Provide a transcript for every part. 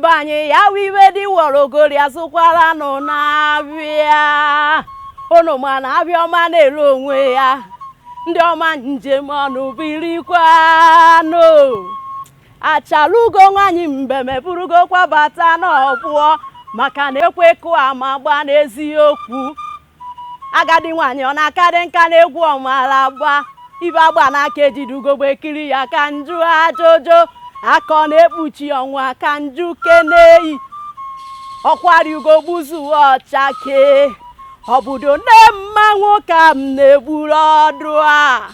be anyị ya wụ iwe di wọrọ ogori azụkwara nụ n'afịa unu ma na afịa ọma na-ere onwe ya ndị ọma nji eme ọnụ birikwanụ Achalugo nwaanyị mbem eburugokwa bata n'ọgbọ maka na ekwe kụọ ama agba n'eziokwu agadi nwaanyị ọ na-akarị nka n'egwu ọ mala agba ife agba n'aka ejide ugogbe ekiri ya ka njụ ajụjụ aka ọ na-ekpuchi ọnwa ka njụ keneyi ọkwari ugo gbuzuo ọ chakee obodo nne mmanwụ ka m na-egburu ọdụ a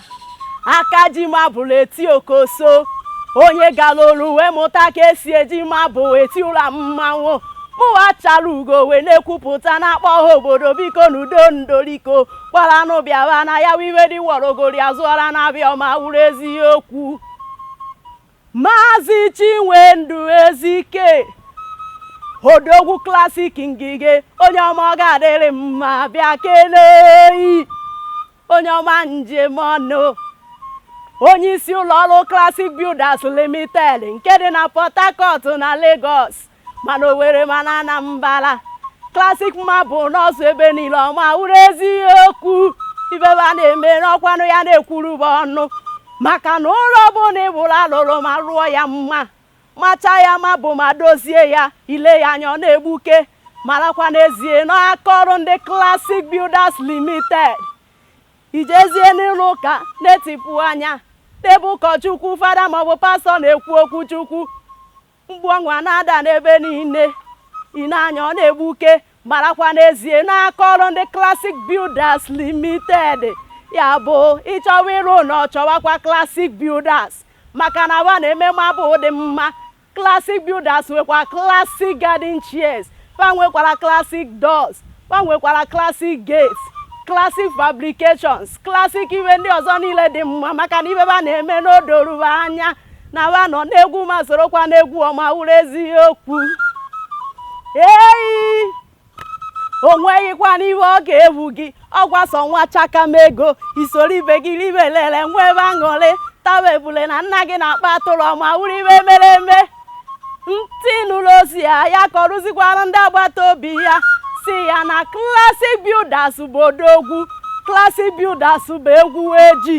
aka ji marble eti okoso onye gara olu wee mụta ka esi eji marble eti ụlọ mmanwụ mụwa Achalugo wee na-ekwupụta na-akpọ ha obodo bikonụ do ndoriko kpọrọ anụ bịara na ya wụ iwe di wọrọ ogori azụọra n'afịa ọma wụrụ eziokwu Maazị Chinwendu Ezike odogwu Classic ngige onye ọma ọ ga-adịrị mma bịa keneyi onye ọma nji eme ọnụ onye isi ụlọ ọrụ Classic Builders Limited nke dị na Port Harcourt na Lagos ma na Owere ma na Anambala Classic Marble nọzu ebe niile ọma wụrụ eziokwu ife fa na-eme n'ọkwanụ ya na-ekwuru fa ọnụ maka na ụlọ ọbụla ị fụrụ alụrụ ma rụọ ya mma macha ya marble ma dozie ya i lee ya anya ọ na-egbuke marakwa n'ezie n'aka ọrụ ndị Classic Builders Limited i jezie n'ụlọ ụka na-etipụ anya n'ebe ụkọchukwu fada maọbụ pastọ na-ekwu okwu chukwu mgbu ọṅụ a na-ada n'ebe niile i nee anya ọ na-egbuke marakwa n'ezie n'aka ọrụ ndị Classic Builders Limited ya bụ ị chọwa ịrụ ụlọ chọwakwa Classic Builders maka na wa na-eme marble dị mma Classic Builders nwekwa Classic Garden Chairs fa nwekwara Classic Doors fa nwekwara Classic Gates Classic Fabrications Classic iwe ndị ọzọ niile dị mma maka na ife fa na-eme n'odoru fa anya na wa nọ n'egwu ma sorokwa n'egwu ọma wụrụ eziokwu eyi o nweghịkwanụ ihe ọ ga-efu gị ọkwa sọ nwa chakam ego i soro ibe gị ribe lere nwebe aṅụrị tawa ebule na nna gị na-akpa atụrụ ọma wụrụ ife mere eme ntị nụrụ ozi a ya kọrụzikwara ndị agbata obi ya sị ya na Classic Builders bụ odogwu Classic Builders bụ egwu eji